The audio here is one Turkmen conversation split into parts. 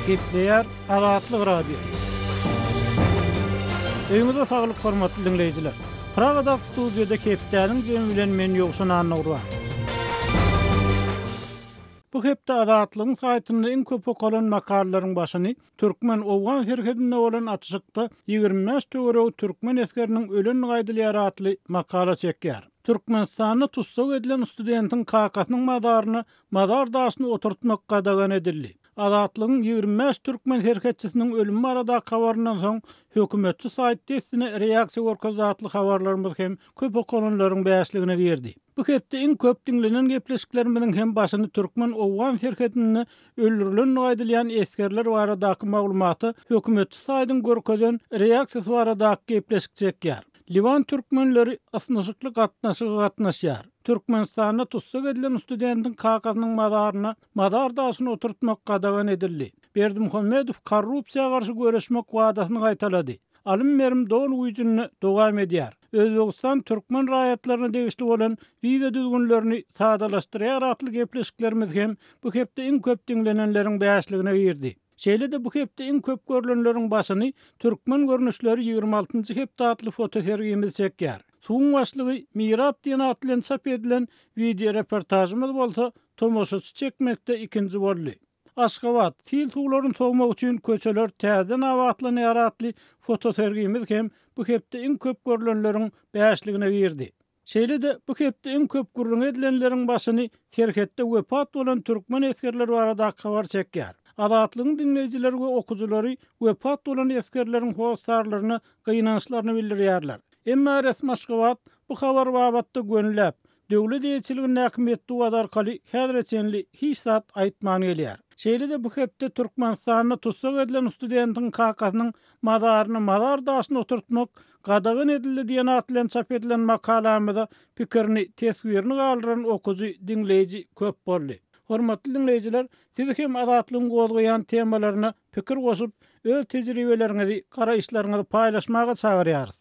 Gepleýär Azatlyk Radio. Öýüňize saglyk hormatly diňleýjiler. Pragada studiýada hepdäniň jemi bilen men Ýowşan Annagurban. Bu hepde Azatlygyň saýtynda iň köp okalan makalalaryň başyny Türkmen-owgan serhedinde bolan atyşykda ýigrimi bäş töweregi türkmen esgeriniň ölenligi aýdylýar atly makala çekýär. Türkmenistanda tussag edilen studentiň kakasynyň mazaryna mazar daşyny oturtmak gadagan edildi. Azatlygyň ýigrimi bäş türkmen serhetçisiniň ölümi baradaky habaryndan soň hökümetçi saýt dessine reaksiýa görkezdi atly habarlarymyz hem köp okalanlaryň bäşligine girdi. Bu hepde iň köp diňlenen gepleşiklerimiziň hem başyny türkmen-owgan serhedinde öldürilenligi aýdylýan esgerler baradaky maglumata hökümetçi saýdyň görkezen reaksiýasy baradaky gepleşik çekýär. Liwan türkmenleri ysnyşykly gatnaşyga gatnaşýar. Türkmenistanda tussag edilen studentiň kakasynyň mazaryna mazar daşyny oturtmak gadagan edildi. Berdimuhamedow korrupsiýa garşy göreşmek wadasyny gaýtalady. Alym-berim doly güýjünde dowam edýär. Özbegistan türkmen raýatlaryna degişli bolan wiza düzgünlerini sadalaşdyrýar atly gepleşiklerimiz hem bu hepde iň köp diňlenenleriň bäşligine girdi. Şeýle-de bu hepde iň köp görlenleriň başyny Türkmen görnüşleri ýigrimi altynjy hepde atly fotosergimiz çekýär. Suwuň başlygy Mirap diýen at bilen çap edilen wideoreportažymyz bolsa tomaşaçy çekmekde ikinji boldy. Aşgabat, sil suwlaryny sowmak üçin köçeler täzeden abatlanýar atly fotosergimiz hem bu hepde iň köp görlenleriň bäşligine girdi. Şeýle-de, bu hepde iň köp gürrüňi edilenleriň başyny serhetde wepat bolan türkmen esgerler baradaky habar çekýär. Azatlygyň diňleýjileri we okyjylary wepat bolan esgerleriň hossarlaryna gynançlaryny bildirýärler. Emma resmi Aşgabat bu habar babatda gönüläp, Döwlet eýeçiligindäki metbugat arkaly häzire çenli hiç zat aýtman gelýär. Şeýle-de bu hepde Türkmenistanda tussag edilen studentiň kakasynyň mazaryny mazar daşyna oturtmak gadagan edildi diýen at bilen çap edilen makalamyza pikirini, teswirini galdyran okyjy, diňleýji köp boldy. Hormatly diňleýjiler, sizi hem Azatlygyň gozgaýan temalaryna pikir goşup, öz tejribeleriňizi, garaýyşlaryňyzy paýlaşmaga çagyrýarys.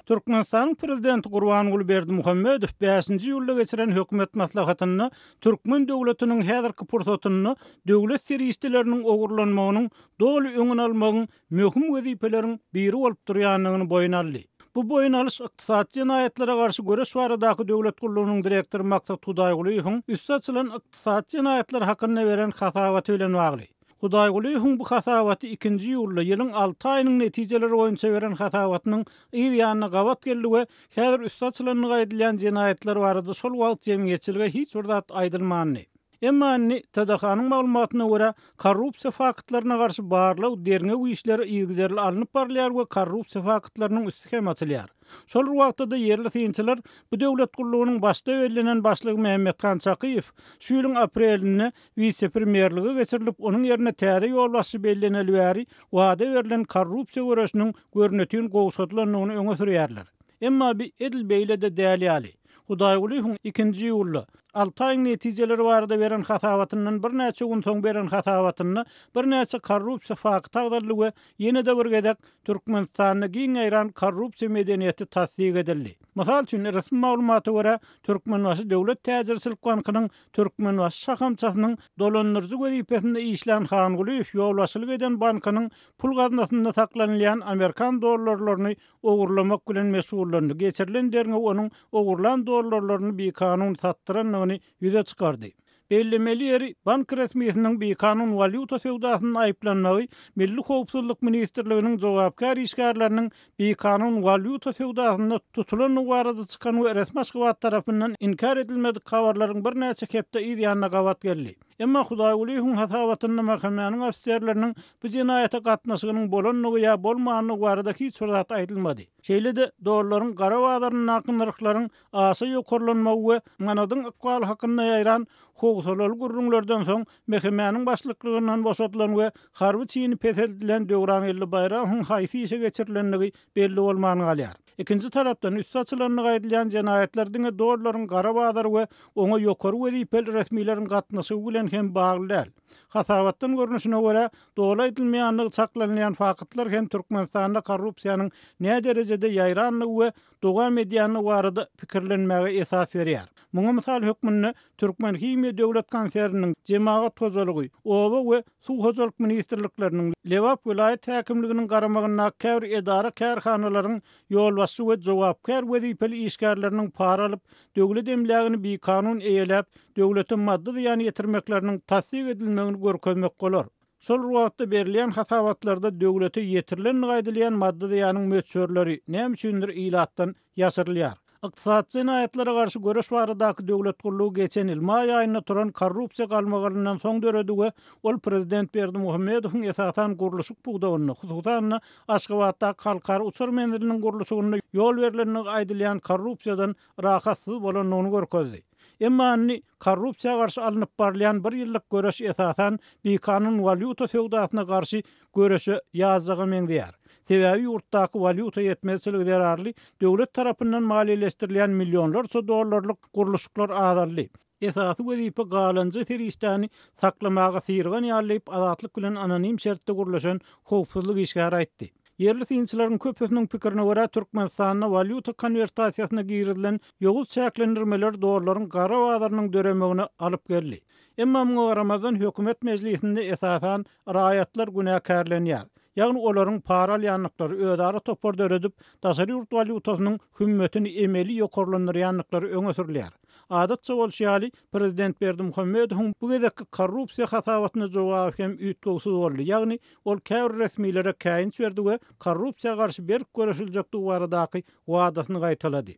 Türkmenistanyň Prezidenti Gurbanguly Berdimuhamedow bäşinji iýulda geçiren Hökümet maslahatynda türkmen döwletiniň häzirki pursatynda döwlet serişdeleriniň ogurlanmagynyň doly öňüni almagyň möhüm wezipeleriň biri bolup durýandygyny boýun aldy. Bu boýun alyş ykdysady jenaýatlara garşy göreş baradaky döwlet gullugynyň direktory Maksat Hudaýgulyýewiň üsti açylan ykdysady jenaýatlar hakynda beren hasabaty bilen bagly. Hudaýgulyýewiň bu hasabaty ikinji iýulda ýylyň alty aýynyň netijeleri boýunça beren hasabatynyň yz ýanyna gabat geldi we häzir üsti açylandygy aýdylýan jenaýatlar barada şol wagt jemgyýetçilige hiç bir zat aýdylmandy. Emma indi, TDH-nyň maglumatyna görä, korrupsiýa faktlaryna garşy barlag, derňew işleri yzygiderli alnyp barylýar we korrupsiýa faktlarynyň üsti hem açylýar. Şol bir wagtda-da ýerli synçylar bu döwlet gullugynyň başda bellenen başlygy Mämmethan Çakyýew şu ýylyň aprelinde wise-premýerlige geçirilip, onuň ýerine täze ýolbaşçy belleneli bäri wada berlen korrupsiýa göreşiniň görnetin gowşadylandygyny öňe sürýärler. Emma bi edil beýle-de däl ýaly. Hudaýgulyýewiň ikinji iýulda, alty aýyň netijeleri barada beren hasabatyndan birnäçe gün soň beren hasabatynda birnäçe korrupsiýa fakty agzaldy we ýene-de bir gezek Türkmenistanda giň ýaýran korrupsiýa medeniýeti tassyk edildi. Mysal üçin, resmi maglumata görä, Türkmenbaşy döwlet täjirçilik bankynyň Türkmenbaşy şahamçasynyň dolandyryjy wezipesinde işlän Hangulyýew ýolbaşçylyk eden bankynyň pul gaznasynda saklanylýan amerikan dollarlaryny ogurlamak bilen meşgullandy, geçirilen derňew onuň ogurlan dollarlaryny bikanun satdyrandygyny ýüze çykardy. Bellemeli ýeri, bank resmisiniň bikanun walýuta söwdasynda aýyplanmagy Milli howpsuzlyk ministrliginiň jogapkär işgärleriniň bikanun walýuta söwdasynda tutulandygy barada çykan we resmi Aşgabat tarapyndan inkär edilmedik habarlaryň birnäçe hepde yz ýanyna gabat geldi. Emma Hudaýgulyýewiň hasabatynda mhkmäniň ofiserleriniň bu jenaýata gatnaşygynyň bolandygy ýa bolmandygy barada hiç bir zat aýdylmady. Şeýle-de, dollaryň gara bazaryndaky nyrhlaryň aşa ýokarlanmagy we manadyň ykbaly hakynda ýaýran howsalaly gürrüňlerden soň mhkmäniň başlyklygyndan boşadylan we harby çini peseldilen Döwrangeldi Baýramowyň haýsy işe geçirilendigi belli bolman galýar. Ikinji tarapdan, üsti açylandygy aýdylýan jenaýatlar diňe dollaryň gara bazary we oňa ýokary wezipeli resmileriň gatnaşygy bilen hem bagly däl. Hasabatdan görnüşine görä, doly aýdylmaýandygy çaklanylýan faktlar hem Türkmenistanda korrupsiýanyň näderejede ýaýrandygy we dowam edýändigi barada pikirlenmäge esas berýär. Muňa mysal hökmünde Türkmenhimiýa döwlet konserniniň, Jemagat hojalygy, oba we. Suw hojalyk ministrlikleriniň, Lebap welaýat häkimliginiň garamagyndaky käbir edara-kärhanalaryň ýolbaşçy we jogapkär wezipeli işgärleriniň para alyp, döwlet emlägini bikanun eýeläp, döwlete maddy zyýan ýetirmekleriniň tassyk edilmegini görkezmek bolar. Şol bir wagtda, berilýän hasabatlarda döwlete ýetirlendigi aýdylýan maddy zyýanyň möçberleri, näme üçindir, ilatdan ýaşyrylýar. Ykdysady jenaýatlara garşy göreş baradaky döwlet gullugy geçen ýyl maý aýynda turan korrupsiýa galmagalyndan soň döredi we ol prezident Berdimuhamedowyň esasan gurluşyk pudagynda, hususan-da, Aşgabatdaky halkara uçar menziliniň gurluşygynda ýol berlenligi aýdylýan korrupsiýadan rahatsyz bolandygyny görkezdi. Emma indi korrupsiýa garşy alnyp barylýan bir ýyllyk göreş esasan bikanun walýuta söwdasyna garşy göreşe ýazjaga meňzeýär. Sebäbi ýurtdaky walýuta ýetmezçiligi zerarly döwlet tarapyndan maliýeleşdirilýän millionlarça dollarlyk gurluşyklar azaldy. Esasy wezipe galanja serişdäni saklamaga syrgan ýaly diýip Azatlyk bilen anonim şertde gürleşen howpsuzlyk işgäri aýtdy. Ýerli synçylaryň köpüsiniň pikirine görä, Türkmenistanda walýuta konwertasiýasyna girizilen ýowuz çäklendirmeler dollaryň gara bazarynyň döremegine alyp geldi. Emma muňa garamazdan, hökümet mejlisinde esasan raýatlar günäkärlenýär. Ýagny olaryň para alýandyklary, özara topar döredip, daşary ýurt walýutasynyň hümmetini emeli ýokarlandyrýandyklary öňe sürülýär. Adatça bolşy ýaly, prezident Berdimuhamedowyň bu gezekki korrupsiýa hasabatyna jogaby hem üýtgewsiz boldy, ýagny ol käbir resmilere käýinç berdi we korrupsiýa garşy berk göreşiljekdigi baradaky wadasyny gaýtalady.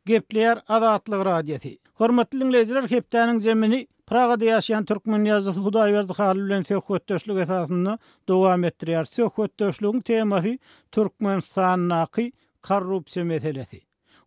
Gepleýär Azatlyk Radiosy. Hormatly diňleýjiler, hepdäniň jemini Pragada ýaşaýan türkmen ýazyjysy Hudaýberdi Halyl bilen söhbetdeşlik esasynda dowam etdirýäris. Söhbetdeşligiň temasy Türkmenistandaky Korrupsiýa meselesi.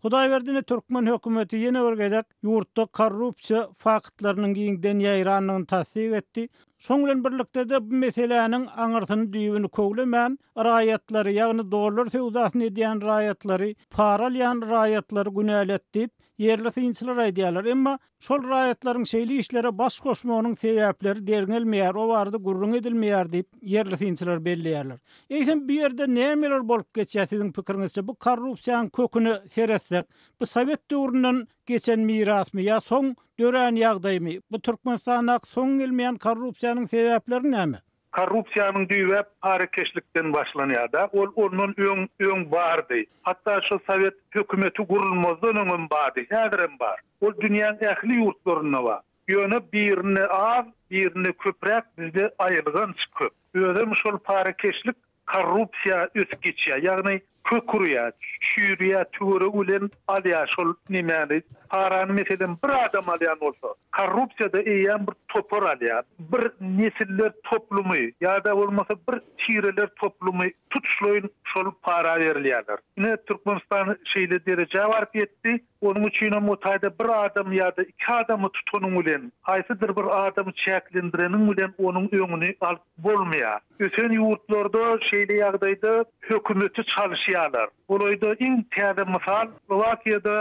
Hudaýberdi ine türkmen hökümeti ýene bir gezek ýurtda korrupsiýa faktlarynyň giňden ýaýrandygyny tassyk etdi. Şoň bilen birlikde-de bu meseläniň aňyrsyny-düýbüni köwlemän, raýatlary, ýagny dollar söwdasyny edýän raýatlary, para alýan raýatlary günäli et diýip, ýerli synçylar aýdýarlar. Emma Şol raýatlaryň şeýle işlere baş goşmagynyň sebäpleri derňelmeýär, o barada gürrüň edilmeýär diýip, ýerli synçylar belleýärler. Eýsem, bu ýerde nämeler bolup geçýär, siziň pikiriňizçe? Bu korrupsiýanyň köküne seretsek, bu sowet döwründen geçen mirasmy ýa soň dörän ýagdaýmy? Bu Türkmenistandaky soňy gelmeýän korrupsiýanyň sebäpleri näme? Korrupsiýanyň düýbi parakeşlikden başlanýar-da, ol ondan öň öň bardy. Hatda şol sowet hökümeti gurulmazdan öňem bardy, häzirem bar. Ol dünýäň ähli ýurtlarynda bar. Ýöne birinde az, birinde köpräk, bizde aýylganç köp. Özem şol parakeşlik Korrupsiýa ösüp geçýär, ýagny kök urýar, çüýrýär, tüwere gülen alýar şol nemäni, parany meselem bir adam alýan bolsa, korrupsiýada eýýäm bir topar alýar, bir nesiller toplumy ýa-da bolmasa bir tireler toplumy tutuşlaýyn şol para berilýärler. Ine Türkmenistan şeýle derejä baryp ýetdi. Onuň üçin hem o taýda bir adamy ýa-da iki adamy tutanyň bilen, haýsydyr bir adamy çäklendireniň bilen onuň öňüni alyp bolmaýar. Ösen ýurtlarda şeýle ýagdaýda hökümeti çalyşýarlar. Golaýda iň täze mysal, Slowakiýada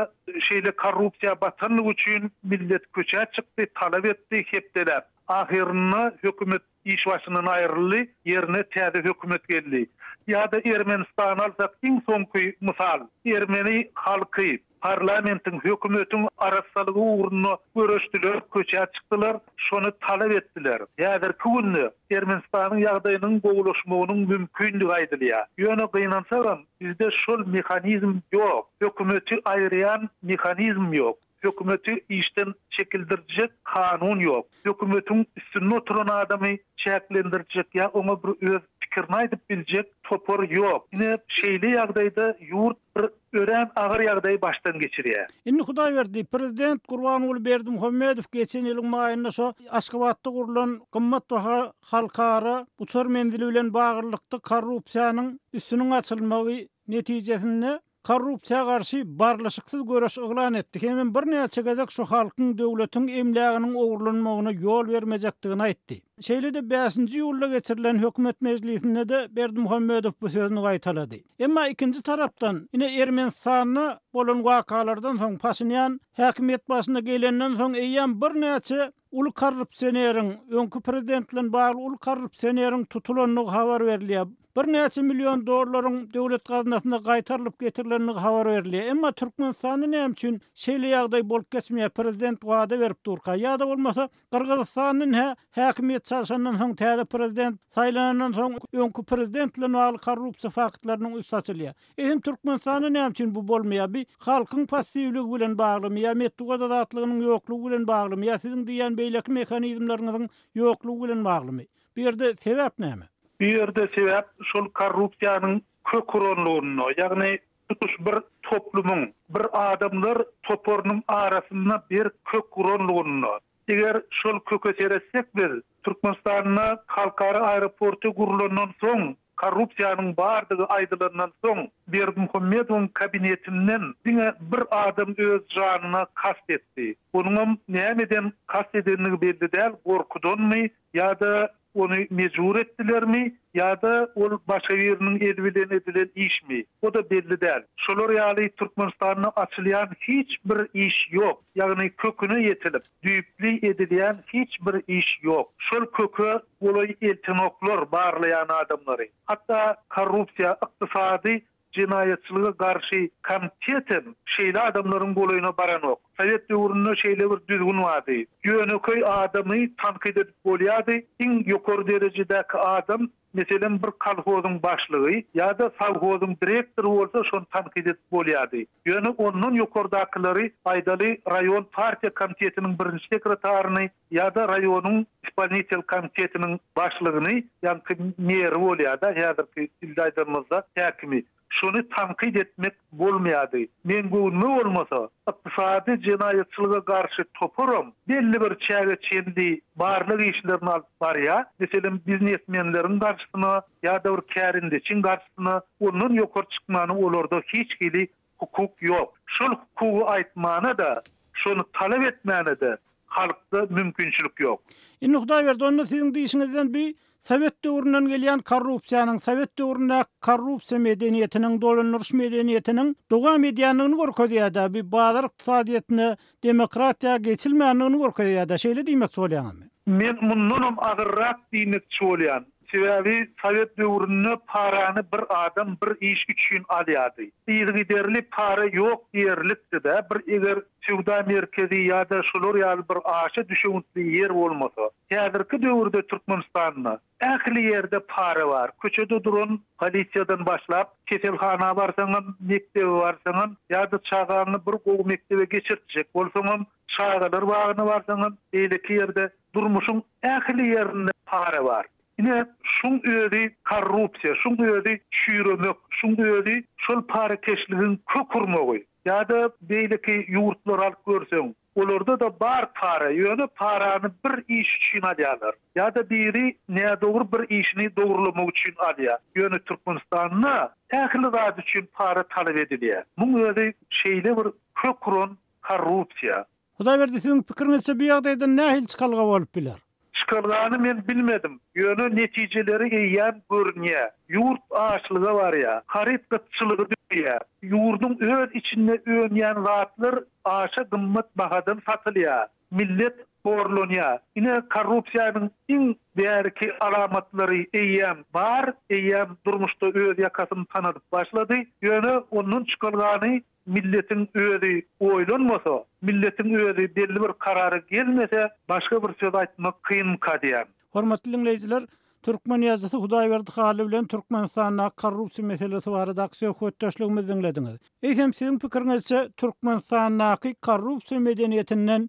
şeýle korrupsiýa batandygy üçin millet köçä çykdy, talap etdi, hepdeläp. Ahyrynda hökümet Iş başyndan aýryldy, ýerine täze hökümet geldi. Ýa-da Ermenistany alsak iň soňky mysal. Ermeni halky, parlamentiň, hökümetiň arassalygy ugrunda göreşdiler, köçä çykdylar, şony talap etdiler. Häzirki günde Ermenistanyň ýagdaýynyň gowulaşmagynyň mümkindigi aýdylýar. Ýöne gynansagam, bizde şol mehanizm ýok. Hökümeti aýyrýan mehanizm ýok. Hökümeti işden çekildirjek kanun ýok. Hökümetiň üstünde oturan adamy çäklendirjek ýa oňa bir öz pikirini aýdyp biljek topar ýok. Ine, şeýle ýagdaýda ýurt bir örän agyr ýagdaýy başdan geçirýär. Indi Hudaýberdi, prezident Gurbanguly Berdimuhamedow geçen ýylyň maýynda şo Aşgabatda gurlan gymmatbaha halkara uçar menzili bilen baglylykda korrupsiýanyň üstüniň açylmagy netijesinde, korrupsiýa garşy barlyşyksyz göreş yglan etdi hemem birnäçe gezek şu halkyň, döwletiň emläginiň ogurlanmagyna ýol bermejekdigini aýtdy. Şeýle-de bäşinji iýulda geçirilen hökümet mejlisinde-de Berdimuhamedow bu sözüni gaýtalady. Emma ikinji tarapdan, ine, Ermenistanda bolan wakalardan soň Paşinýan häkimiýet başyna gelenden soň eýýäm birnäçe Uly korrupsioneriň, öňki prezident bilen bagly uly korrupsioneriň tutulandygy habar berilýär. Birnäçe million dollaryň döwlet gaznasyna gaýtarylyp getirilenligi habar berilýär. Emma Türkmenistanda näme üçin şeýle ýagdaý bolup geçmeýär, prezident wada berip durka? Ýa-da bolmasa Gyrgyzystandan hä, häkimiýet çalşandan soň täze prezident saýlanandan soň öňki prezident bilen bagly korrupsiýa faktlarynyň üsti açylýar. Eýsem Türkmenistanda näme üçin bu bolmaýar bi halkyň passiwligi bilen baglymy ýa metbugat azatlygynyň ýoklugy bilen baglymy ýa siziň diýýän beýleki mehanizmleriňiziň ýoklugy bilen baglymy bu ýerde sebäp näme? Bu ýerde sebäp şol korrupsiýanyň kök uranlygynda ýagny tutuş bir toplumyň bir adamlar toparynyň arasynda berk kök uranlygynda. Eger şol köke seretsek biz Türkmenistanda halkara aeroporty gurlandan soň Korrupsiýanyň bardygy aýdylandan soň, Berdimuhamedowyň kabinetinden diňe bir adam öz janyna kast etdi. Onuňam nämeden kast edendigi belli däl, gorkudanmy ýa-da ony mejbur etdilermi ýa-da ol başga biriniň eli bilen edilen işmi, o-da belli däl. Şolar ýaly Türkmenistanda açylýan hiç bir iş ýok, ýagny köküne ýetilip, düýpli edilýän hiç bir iş ýok. Şol köke Golaý eltenoklar barlaýan adamlary, hatda korrupsiýa, ykdysady jenaýatçylyga garşy komtetem şeýle adamlaryň golaýyna baranok. Sowet döwründe şeýle bir düzgün bardy, ýönekeý adamy tankyt edip bolýardy, iň ýokary derejedäki adam, meselem, bir kolhozyň başlygy ýa-da sowhozyň direktory bolsa şony tankyt edip bolýardy. Ýöne ondan ýokardakylary, aýdaly, raýon partiýa komitetiniň birinji sekretaryny ýa-da raýonyň ispolnitel komitetiniň başlygyny, ýaňky meri bolýar-da, häzirki dilde aýdanymyzda, häkimi, şony tankyt etmek bolmaýardy. Meň göwnüme bolmasa, ykdysady jenaýatçylyga garşy toparam belli bir çäge çenli barlag işlerini alyp barýar, meselem, biznesmenleriň garşysyna ýa-da bir kärendeçiň garşysyna ondan ýokary çykmany olarda hiç hili hukuk ýok. Şol hukugy aýtmana-da, şony talap etmäne-de halkda mümkinçilik ýok. Indi Hudaýberdi onda siziň diýişiňizden bi sowet döwründen gelýän korrupsiýanyň, sowet döwründäki korrupsiýa medeniýetiniň, dolandyryş medeniýetiniň dowam edýändigini görkezýär-dä, bi bazar ykdysadyýetine demokratiýa geçilmändigini görkezýärda şeýle diýmekçi bolýaňyzmy? Men mundanam agyrrak diýmekçi bolýan. Sebäbi sowet döwründe parany bir adam bir iş üçin alýardy. Yzygiderli para ýok diýerlikdi-dä bir eger söwda merkezi ýa-da şolar ýaly bir aşa düşewüntli ýer bolmasa. Häzirki döwürde Türkmenistanda Ähli ýerde para bar. Köçede duran polisiýadan başlap, keselhana barsaňam, mekdebe barsaňam, ýa-da çagaňy bir gowy mekdebe geçirtjek bolsaňam, çagalar bagyna barsaňam, beýleki ýerde, durmuşyň ähli ýerinde para bar. Ine, şuň özi korrupsiýa, şuň özi çüýremek, şuň özi şol parakeşligiň kök urmagy. Ýa-da beýleki ýurtlary alyp görseň, Olarda-da bar para, ýöne parany bir iş üçin alýarlar. Ýa-da biri nädogry bir işini dogrylamak üçin alýar. Ýöne Türkmenistanda ähli zat üçin para talap edilýär. Muň özi şeýle bir kök uran korrupsiýa. Hudaýberdi siziň pikiriňizçe bu ýagdaýdan nähili çykalga bolup biler? Çykalgany men bilmedim, ýöne netijeleri eýýäm görünýär. Ýurt açlyga barýar, haryt gytçylygy döreýär. Ýurduň öz içinde önýän zatlar aşa gymmat bahadan satylýar. Millet horlanýar. Ine, korrupsiýanyň iň bärki alamatlary eýýäm bar, eýýäm durmuşda öz ýakasyny tanadyp başlady. Ýöne ondan çykalgany Milletiň özi oýlanmasa, milletiň özi belli bir karara gelmese, başga bir söz aýtmak kynmyka diýýän. Hormatly diňleýjiler, Türkmen ýazyjysy Hudaýberdi Hally bilen Türkmenistandaky korrupsiýa meselesi baradaky söhbetdeşligimizi diňlediňiz. Eýsem siziň pikiriňizçe Türkmenistandaky korrupsiýa medeniýetinden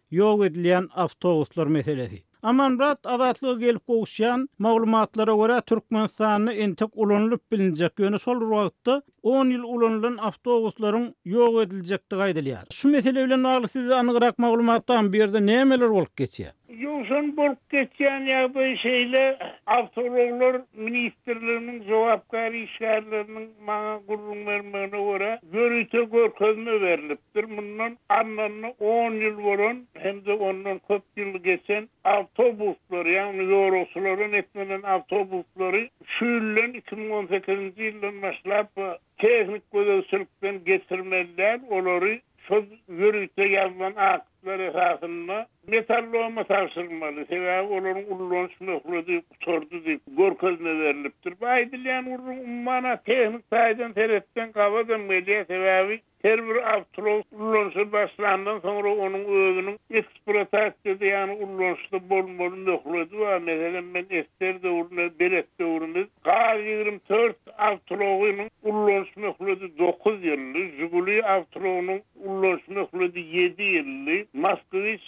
Ýok edilýän awtobuslar meselesi. Amanmyrat, Azatlyga gelip gowuşýan maglumatlara görä, Türkmenistanda entek ulanylyp bilinjek, ýöne şol bir wagtda on ýyl ulanylan awtobuslaryň ýok ediljekdigi aýdylýar. Şu mesele bilen bagly sizde anygrak maglumat barmy, bu ýerde nämeler bolup geçýär? Jowşan, Bolup geçýän ýagdaý şeýle, awtoulaglar ministrliginiň jogapkär işgärleriniň maňa gürrüň bermegine görä, ýörite görkezme berlip, Ýitdir mundan arnanyna on ýyl bolan hem-de ondan köp ýyl geçen awtobuslary, ýagny ýolagçylardan eklenen awtobuslary şu ýyldan, iki müň on sekizinji ýyldan başlap tehniki gözegçilikden geçirmeli däl, olary şol ýörite ýazylan aktlar esasynda Metalloma tabşyrmaly, sebäbi olaryň ullanyş möhledi gutardy diýip, görkezme berlipdir. Bu aýdylýan gürrüň, umuman-a, tehniki taýdan seretseň gabat hem gelýär, sebäbi Her bir awtolog ulanyşa başlandan soňra onuň özüniň ekspluatasiýada, ýagny ulanyşda bolmaly möhledi bar. Meselem, men ester döwründe, belet döwrümiz, Gaz ýigrimi dört awtologynyň ulanyş möhledi dokuz ýyldy, Žiguli awtologynyň ulanyş möhledi ýedi ýyldy, Moskwiç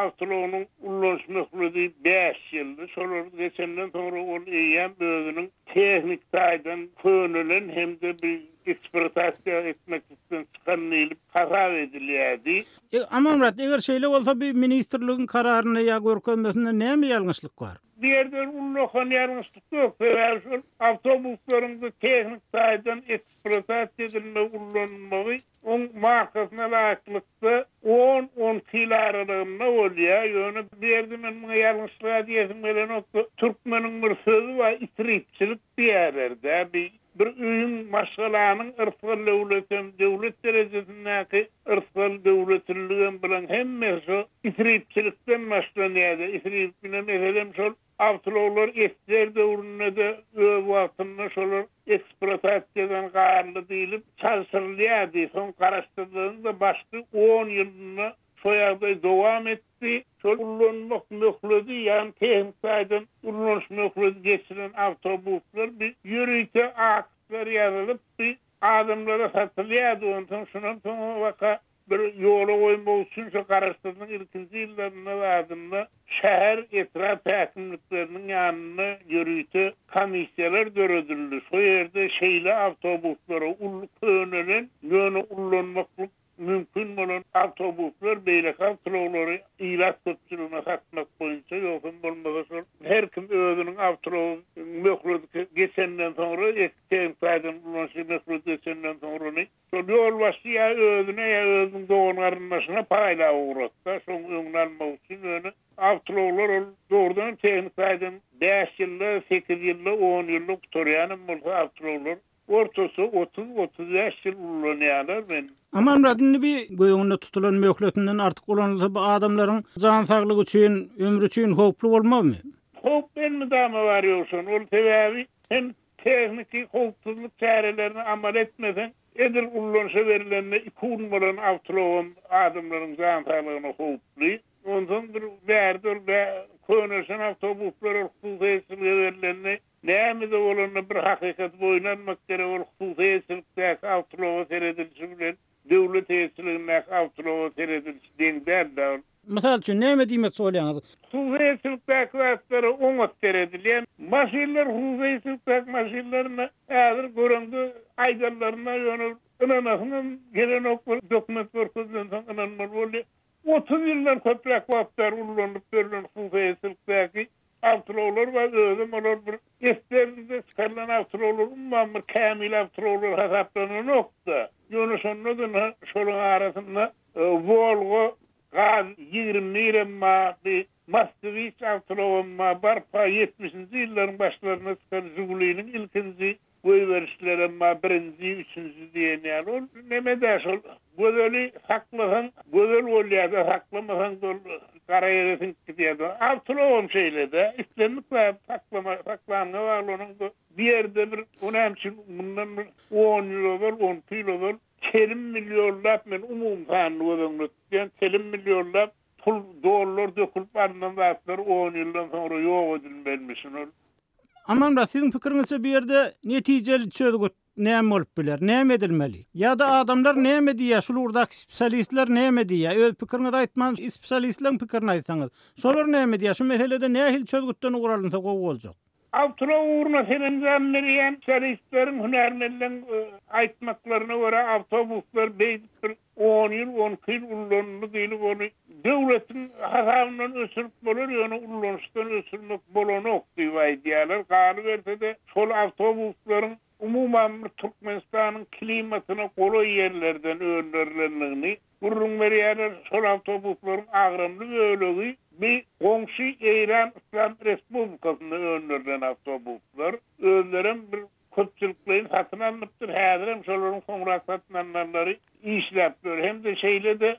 awtologynyň ulanyş möhledi bäş ýyldy. Şolary geçenden soňra ol eýýäm özüniň tehniki taýdan könelen hem-de bir Eksploatasiýa etmek üstüne çykan diýlip hasap edilýärdi. Amanmyrat, eger şeýle bolsa bu ministrligiň kararynda ýa görkezmesinde näme ýalňyşlyk bar? Bu ýerde bir ullakan ýalňyşlyk ýok, sebäbi şol awtobuslaryň bu tehniki taýdan eksploatasiýa edilmegi, ullanylmagy oň markasyna laýyklykda on, on iki ýyl aralygynda bolýar. Ýöne bu ýerde men muňa ýalňyşlyga diýesim gelenok-da, türkmeniň bir sözi bar, itiripçilik. Diýýärler, däbi, bir öýüň, maşgalanyň yrsgal döwletem, döwlet derejesindäki yrsgal döwletilligem bulan hemmesi şo isripçilikden başlanýar-da. Isrip ine, meselem, şol awtloglar esger döwründe-de öz wagtynda şolar eksplotasiýadan galdy diýlip çalşyrylýardy. Soň garaşsyzlygyň-da başky on ýylynda Şo ýagdaý dowam etdi. Şol ullanmak möhledi, ýagny tehniki taýdan ulanyş möhledi geçilen awtobuslar bi ýörite aktlar ýazylyp, bi adamlara satylýardy. Onsoň şundan soň o waka bir ýola goýmak üçin şo garaşsyzlygyň ilkinji ýyllarynda zadynda şäher, etrap häkimlikleriniň ýanynda ýörite komissiýalar döredildi. Şo ýerde şeýle awtobuslara uly könelen, ýöne ullanmaklyk mümkin bolan awtobuslar, beýleki awtoulaglary ilat köpçüligine satmak boýunça, ýogsam bolmasa şol her kim özüniň awtoulagyň möhleti geçenden soňra, eski tehnik taýdan ulanyşy möhleti geçenden soňra ony şol ýolbaşçy ýa özüne ýa özüniň dogan-garyndaşyna paýlap ugratsa, şoň öňüni almak üçin, ýöne awtoulaglar ol dogrudanam tehnik taýdan bäş ýylda, sekiz ýylda, on ýylda gutarýanam bolsa awtoulaglar, Ortasy otuz, otuz bäş ýyl ulanýarlar men. Amanmyradyň nbi göwünde tutulan möhletinden artyk ulanylsa bu adamlaryň jan saglygy üçin, ömri üçin howply bolmazmy? Howp elmydama bar ýogshan ol sebäbi sen tehniki howpsuzlyk çärelerini amal etmeseň edil ullanşa berilende iki gün bolan awtlogam adamlaryň jan saglygyna howply. Onsoň bir bärde ol bä köneşen awtobuslar ol hususyýetçilige berilende Näme-de bolanda bir hakykat boýun almak gerek, ol hususy eýeçilikdäki awtouloga seredilişi bilen döwlet eýeçiligindäki awtouloga seredilişi deň däl-de, ol. Mysal üçin, näme diýmekçi bolýaňyz? Hususy eýeçilikdäki zatlara oňat seredilýär. Maşynlar hususy eýeçilikdäki maşynlaryna häzir göreňde aýdanlaryna ýöne ol ynanasyňam gelenok bir dokument görkezilensoň ynanmaly bolýar. Otuz ýyldan köpräk wagt bäri ulanylyp ýörlen hususy eýeçilikdäki awtoulaglar bar, özem olar bir esberdide çykarylan awtoulaglar umuman bir kämil awtoulaglar hasaplananok-da. Ýöne şonda-da ynha şolaryň arasynda Wolga, Gaz ýigrimi birem bar, bir Moskwiç awtoulagam bar, barpa ýetmişinji ýyllaryň başlarynda çykan Žiguliniň ilkinji Goýberişdiler emma birinji üçünji diýen ýaly ol nemede şol gözeli saklasaň gözel bolýada saklamasaňda ol gara ýere siňip gidýärdi. Awtologam şeýlede islendik zady saklama saklanyňa bagly onuň bu bu ýerde bir o näme üçin mundan bir on ýyl ozal on iki ýyl ozal telim millionlap men umumy sanyny göz öňünde tutýan telim millionlap pul dollar dökülip alnan zatlar on ýyldan soňra ýok edilmelmişin ol Aman-da, siziň pikiriňizçe bu ýerde netijeli çözgüt näme bolup biler? Näme edilmeli? Ýa-da adamlar näme diýýär, şul ugurdaky spsialistler näme diýýär? Öz pikiriňizi aýtman, spsialistleriň pikirini aýtsaňyz. Şolar näme diýýär? Şu meselede nähili çözgütden ugur alynsa gowy boljak? Awtora ugruna serenzam berýän spsialistleriň, hünärmenleriň aýtmaklaryna görä, awtobuslar beýdipdir, On ýyl, on iki ýyl ullanyldy diýlip, ony döwletiň hasabyndan öçürip bolar, ýöne ulanyşdan öçürmek bolanok diýip aýdýarlar. Galyberse-de, şol awtobuslaryň umuman bir Türkmenistanyň klimatyna golaý ýerlerden öndürilendigini gürrüň berýärler. Şol awtobuslaryň agramly bölegi bi goňşy Eýran Yslam Respublikasynda öndürilen awtobuslar. Özlerem bir köpçülikleýin satyn alnypdyr, häzirem şolaryň soňrak satyn alnanlary işläp ýör hem-de şeýle-de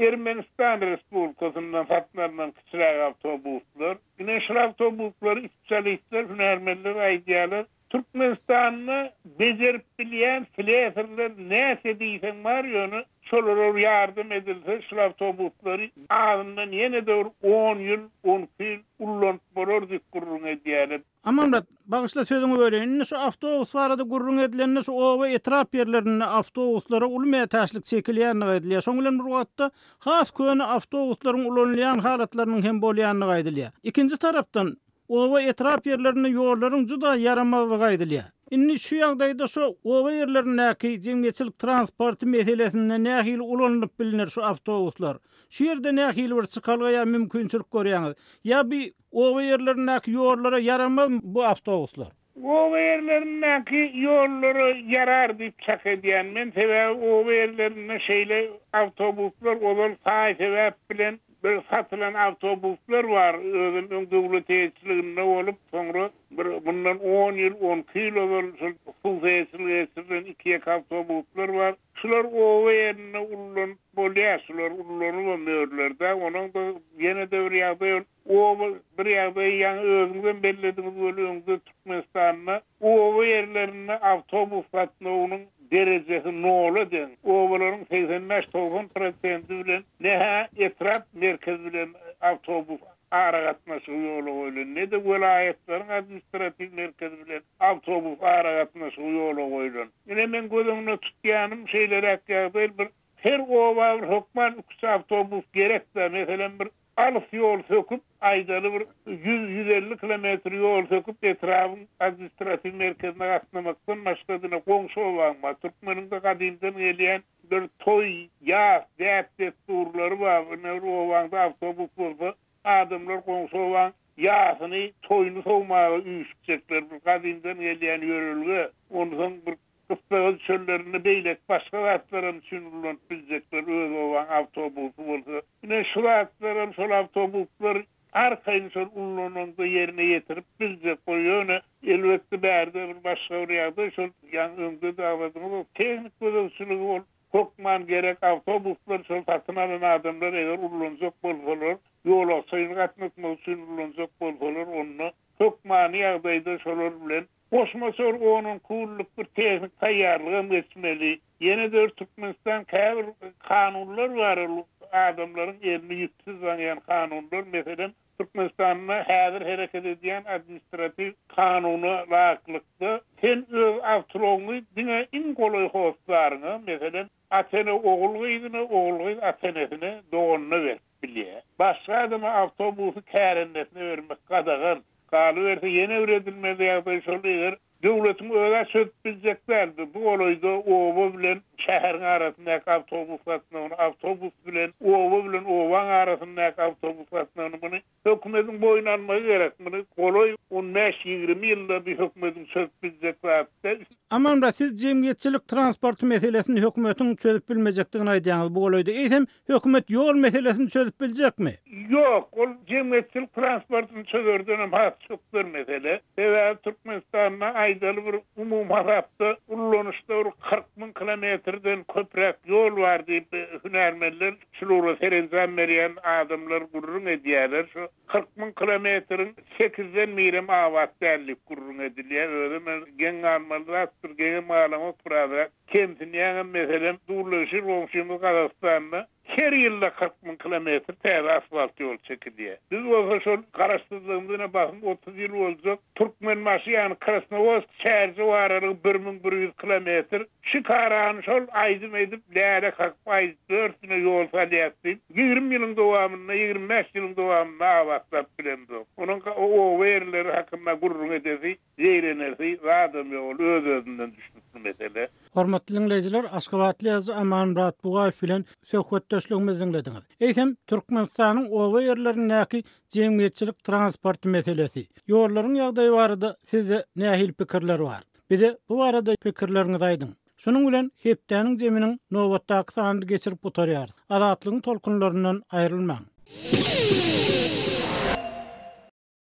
Ermenistan Respublikasyndan satyn alnan kiçiräk awtobuslar. Ine, şul awtobuslary spesialistler, hünärmenler aýdýarlar. Türkmenistanda bejerip bilýän slesarlar näçe diýseň bar, ýöne şolara bir ýardam edilse, şul awtobuslary azyndan ýene-de bir on ýyl, on iki ýyl ullanyp bolar diýip gürrüň edýärler. Amanmyrat, bagyşla sözüňi böleýin. Indi şu awtobus barada gürrüň edilende şu oba, etrap ýerlerinde awtobuslara uly mätäçlik çekilýändigi aýdylýar. Şoň bilen bir wagtda has köne awtobuslaryň ulanylýan halatlarynyň hem bolýandygy aýdylýar. Ikinji tarapdan, oba, etrap ýerlerinde ýollaryň juda ýaramazdygy aýdylýar. Indi şu ýagdaýda şu oba ýerlerindäki jemgyýetçilik transporty meselesinde nähili ulanylyp bilner şu awtobuslar? Şu ýerde nähili bir çykalga ýa mümkinçilik görýäňiz? Ýa bu Oba ýerlerindäki ýollara ýaramazmy bu awtobuslar? Oba ýerlerindäki ýollara ýarar diýip çak edýän men, sebäbi oba ýerlerinde şeýle awtobuslar ozal saý sebäp bilen bir satylan awtobuslar bar, özem öň döwlet eýeçiliginde bolup, soňra bir mundan on ýyl, on iki ýyl ozal şol hususy eýeçilige geçirilen iki-ýeke awtobuslar bar. Şular oba ýerinde ululanyp Bolýar, şular ullanyp hem öýerler-dä. Onuň-da ýene-de bir ýagdaýy ol, oba, bir ýagdaýy ýaňy özüňizem bellediňiz weli, öňde Türkmenistanda oba ýerlerinde awtobus gatnawynyň derejesi nola deň. Obalaryň segsen bäş, togsan prosenti bilen ne-hä etrap merkezi bilen awtobus aragatnaşygy ýola goýlan, ne-de welaýatlaryň administratiw merkezi bilen awtobus aragatnaşygy ýola goýlan. Ine, men göz öňüne tutýanym, şeýleräk ýagdaý, bir her oba bir hökman iki-üç awtobus gerek-dä. Meselem, bir alys ýol söküp, aýdaly, bir ýüz, ýüz elli kilometr ýol söküp, etrabyň administratiw merkezine gatnamakdan başga, diňe goňşy obaň bar. Türkmeniň-de gadymdan gelýän bir toý, ýas, däp-dessurlary bar. Ine, bir obaňda awtobus bolsa, Adamlar goňşy obaň ýasyny, toýuny sowmaga üýşüpjekler. Bir gadymdan gelýän ýörelge. Onsoň bir gyssagaz çöllerinde beýleki başga zatlaram üçin ullanyp biljekler. Öz obaň awtobusy bolsa. Ine, şu zatlaram, şol awtobuslar arkaýyn şol ullanaňda ýerine ýetirip biljek. Bu ýöne, elbetde, bärde bir başga bir ýagdaý, şol ýaňy öňde-de agzadyňyz, ol tehnik gözegçiligi bolup, Hökman gerek awtobuslar şol satyn alan adamlar eger ullanjak bolsalar, ýolagçyny gatnatmak üçin ullanjak bolsalar onda hökmany ýagdaýda şolar bilen Goşmaça bir on-on kunluk bir tehnik taýýarlygam geçmeli. Ýene-de bir Türkmenistan käbir kanunlar bar ol adamlaryň elini ýüpsiz zaňýan kanunlar meselem Türkmenistanda häzir hereket edýän administratiw kanuna laýyklykda, sen öz awtoulogyňy diňe iň golaý hossaryňa, meselem, ata-ene ogul-gyzyna, ogul-gyz ata-enesine, doganyna berip bilýär. Başga adama awtobusy kärendesyna bermek gadagan. Galyberse, ýene bir edilmeli ýagdaý şol, eger Döwletiň özä çözüp biljek däldi. Bu golaýda oba bilen şäheriň arasyndaky awtobus gatnawyny, awtobus bilen oba bilen obaň arasyndaky awtobus gatnawyny muny hökümetiň boýun almagy gerek. Muny golaý on bäş, ýigrimi ýylda bir hökümetiň çözüp biljek zat däl. Amanmyrat siz jemgyýetçilik transporty meselesini hökümetiň çözüp bilmejekdigini aýdýaňyz bu golaýda. Eýsem Hökümet ýol meselesini çözüp biljekmi? Ýok, ol jemgyýetçilik transportyny çözerdenem has çöp bir mesele. Sebäbi Türkmenistanda aýdaly bir umumy hasapda ulanyşda bir kyrk müň kilometrden köpräk ýol bar diýip hünärmenler, şul ugura serenjam berýän adamlar gürrüň edýärler. Şu kyrk müň kilometriň sekizden birem abat däl diýip gürrüň edilýär. Özem geň galmaly zatdyr, geňem galanok birazrak. Kemsinýäňem, meselem, durnulýşy goňşymyz Gazagystanda her ýylda kyrk müň kilometr täze asfalt ýol çekilýär. Biz bolsa şol garaşsyzlygymyz ine basym otuz ýyl boljak Türkmenbaşy ýany Krasnowodsk şäherje baralygy bir müň bir ýüz kilometr şikarany şol aýdym edip läle kakyp aýdyp dörtüne ýol salýas diýip ýigrimi ýylyň dowamynda ýigrimi bäş ýylyň dowamynda abatlap bilemzok. Onuň oba ýerleri hakynda gürrüň edesi Zeýrenersi zadam ýok ol öz özünden düşnükli mesele. Hormatly diňleýjiler aşgabatly ýazyjy Amanmyrat Bugaýew bilen söhbetdeşligimizi diňlediňiz. Eýsem Türkmenistanyň oba ýerlerindäki jemgyýetçilik transporty meselesi, ýollaryň ýagdaýy barada sizde nähili pikirler bar? Bize bu barada pikirleriňizi aýdyň. Şunuň bilen Hepdäniň jeminiň nobatdaky sanyny geçirip gutarýarys. Azatlygyň tolkunlaryndan aýrylmaň.